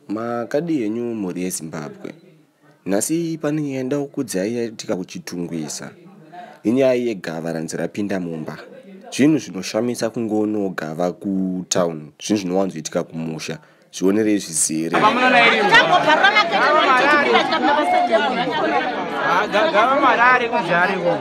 Makadii henyu mhuri yeZimbabwe? Nhasi pane nyaya nda kukudzai yaitika kuChitungwiza. Inyaya yegava ranzi rapinda mumba. Zvinhu zvinoshamisa kungoonawo gava kutown, zvinhu zvinowanzoitika kumusha. Zvionerei zvizere. Gava mari ari kuzha ariko.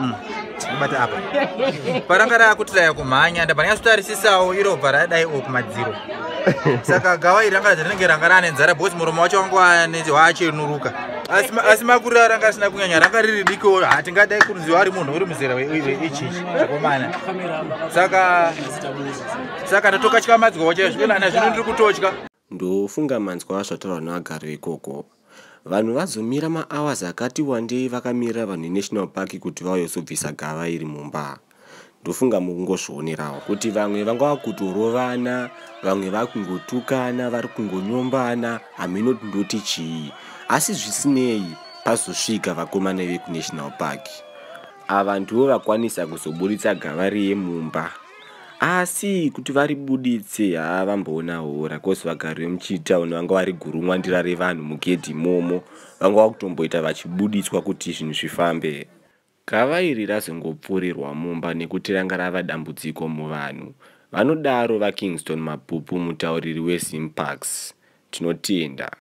Mm. bata apa paranga rakutiraya kumhanya ndabva ndanyatsotarisisawo iro bva radai o kumadziro saka gawa iri ranga rinenge ranga rane nzara bhosi muromo wacho wangu waachenuruka asi makurira ranga risina kunyanya ranga riri diko hatingadai kuruziwa ari munhu uri muzera weichichi akomana saka saka ndatokatyamadzwa wachaizvo ina zvino ndiri kutotya Ndofunga manzwa zvataurwa nevagari vekoko. Vanhu vazomira ma hours akati wandei vakamirira vanhu ve National Park kuti vauye kuzobvisa gava iri mumba. Ndofunga mukungozvionerawo kuti vamwe vangava kutorovana, vamwe vakungotukana, vari kungonyombana, hameno kuti ndoti chii. Asi zvisinei pazosvika vakomana veku National Park. Ava ndivo vakwanisa kuzoburitsa gava riye mumba. asi kuti varibuditse haa vamboona hora cause vagari vemuchitown vanga vari gurumwa ndira revanhu mugedhi imomo vanga vakutomboita vachibuditswa kuti zvinhu zvifambe gava iri razongopfurirwa mumba nekuti ranga rava dambudziko muvanhu vanodaro vakingston mabhupu mutauriri wezimparks tinotenda